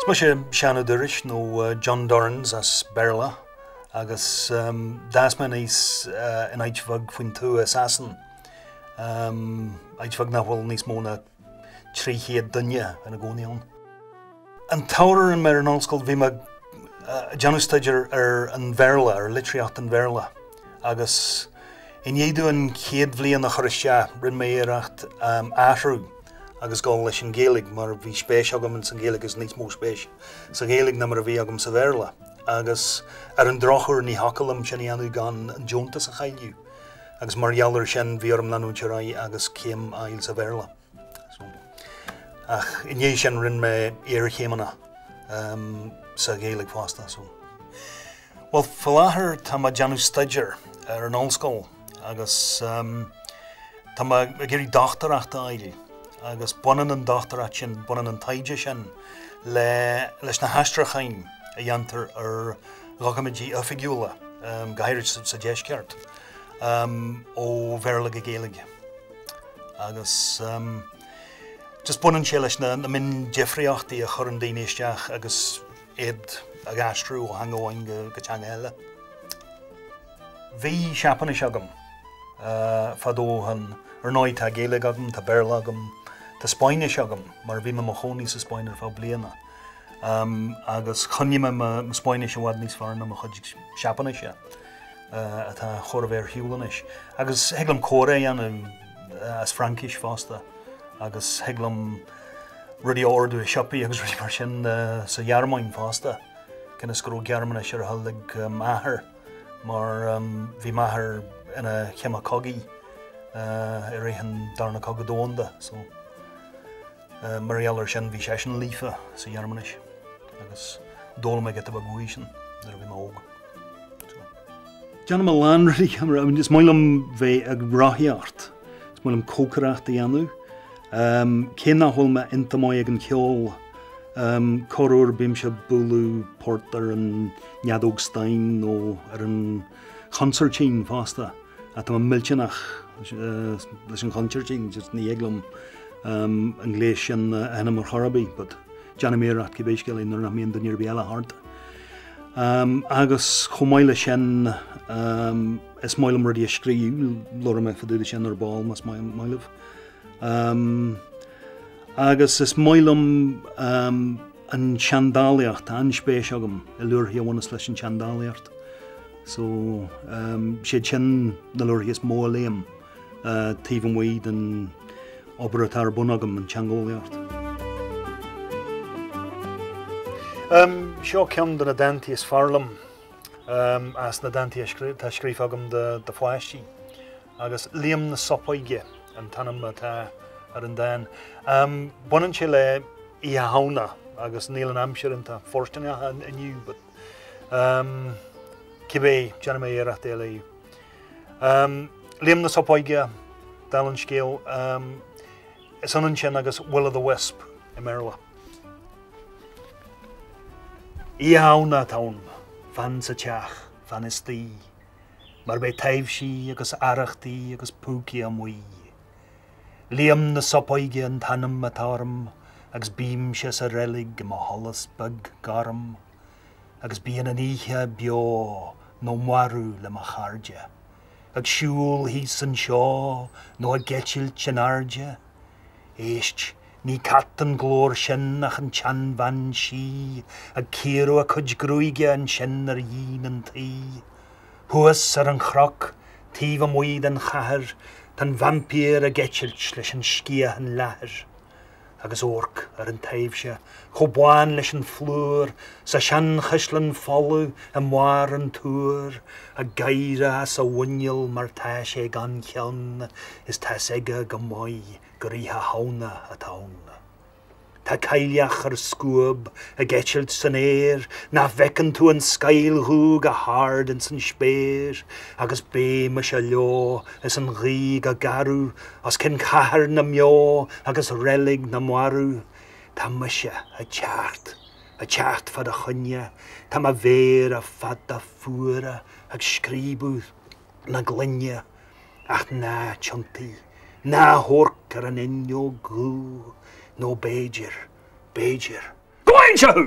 Is mise Seán Ó Doráis nó John Dorrans as Béarla agus d'fhás mé aníos in áit bheag faoin tuath i Sasain, áit bheag nach bhfuil níos mó ná 300 duine ina gcónaí ann. An t-ábhar a rinne mé ar an ollscoil, bhí mé ag déanamh staidéir ar an Bhéarla, ar litríocht an Bhéarla, agus i ndiaidh dom an chéad bhliain a chur isteach, rinne mé iarracht athrú agus dul leis an Ghaeilge, mar bhí spéis agam ins an Ghaeilge agus níos mó spéis sa Ghaeilge ná mar a bhí agam sa Bhéarla, agus ar an drochuair ní thiocfadh liom sin a dhéanamh gan an deontas a chailleadh. agus mar gheall ar sin bhí orm leanúint ar aghaidh agus céim a fháil sa Bhéarla. Ach i ndiaidh sin rinne mé iarchéimeanna sa Ghaeilge fosta. Bhuel, faoi láthair tá mé ag déanamh staidéir ar an ollscoil agus tá mé ag iarraidh dochtúireacht a fháil agus baineann an dochtúireacht sin, baineann an taighde sin leis na haistriúcháin a dhéantar ar dhoiciméidí oifigiúla, go háirid sa Deisceart, ó Bhéarla go Gaeilge. Agus just baineann sé leis na miondifríochtaí a chuireann daoine isteach agus iad ag aistriú ó theanga amháin go teanga eile. Bhí Seapáinis agam fadó ó shin, ar ndóigh tá Gaeilge agam, tá Béarla agam, tá Spáinnis agam mar bhí mé i mo chónaí sa Spáinn ar feadh bliana. agus choinnigh mé mo Spáinnis i bhfad níos fearr ná mo chuid Seapáinise, atá chóir a bheith ar shiúl anois. Agus thig liom comhrá a dhéanamh as Fraincis fosta, agus thig liom rudaí a ordú i siopaí agus rudaí mar sin sa Ghearmáin fosta, cionn is go raibh Gearmáinis ar a thoil aig m'athair, mar bhí m'athair ina chime cogaidh i rith an Darna Cogadh Domhanda. Mar gheall air sin, bhí seisean líofa sa Ghearmáinis agus d'fhoghlaim mé giota beag uaidh sin nuair a bhí mé óg. Déanaim a lán rudaí, is maith liom bheith ag rothaíocht, is maith liom cócaireacht a dhéanamh. Cé nach bhfuil mé iontach maith ag an cheol, corruair bímse ag bualadh port ar an fheadóg stáin nó ar an chonsairtín fosta, ach tá mé millteanach leis an chonsairtín, just ní thig liom an gléas sin a sheinm ar chor ar bith but déanaim iarracht cibé scéal é nuair nach mbíonn duine ar bith eile thart. Agus chomh maith leis sin is maith liom rudaí a scríobh, labharfaidh mé fadúda sin ar ball más maith libh. Agus is maith liom, An tseandálaíocht, tá an-spéis agam i leabharthaí a bhaineas leis an tseandálaíocht so siad sin na leabharthaí is mó a léim taobh amuigh den obair atá ar bun agam, an teangeolaíocht. Seo ceann de na dánta is fearr liom as na dánta atá scríofa agam do pháistí. agus 'Liam na Sopóige' an t-ainm atá ar an dán. Baineann sé le Oíche Shamhna agus níl an aimsir iontach fóirstineach inniu but cibé déanfaidh mé iarracht é a léamh. Liam na Sopóige, dála an scéil, is ionann sin agus Will o' the Wisp i mBéarla. Oíche Shamhna atá ann, fan sa teach, fan istigh, mar beidh taibhsí agus arrachtaí agus púcaí amuigh. Liam na Sopóige an t-ainm atá orm agus bímse sa reilig i mo sholas beag gorm agus bíonn an oíche beo nó marbh le mo chairde, ag siúl thíos anseo nó ag eitilt in airde. Éist! Ní cat an glór sin ach an tseanbhean sí ag cíoradh a cuid gruaige ansin ar dhíon an tí. Thuas ar an chnoc, taobh amuigh den chathair, tá an vaimpír ag eitilt leis an sciathan leathair. Agus amharc ar an taibhse chomh bán leis an phlúr sa seanchaisleán folamh i mbarr an túir, ag gáire as a mhuineál mar tá sé gan cheann is tá's aige go maith gur Oíche Shamhna atá ann. Tá cailleach ar scuab ag eitilt san aer, nach bhfeiceann tú an scáil dhubh go hard ins an spéir, agus beidh mise leo is an ghaoth go garbh, os cionn chathair na mbeo agus reilig na marbh. Tá mise ag teacht, ag teacht fá do choinne, tá mo mhéara fada fuara ag scríobadh na gloine. Ach ná tiontaigh, ná amharc ar an fhuinneog dhubh, nó b'fhéidir, b'fhéidir, go bhfaighinnse thú!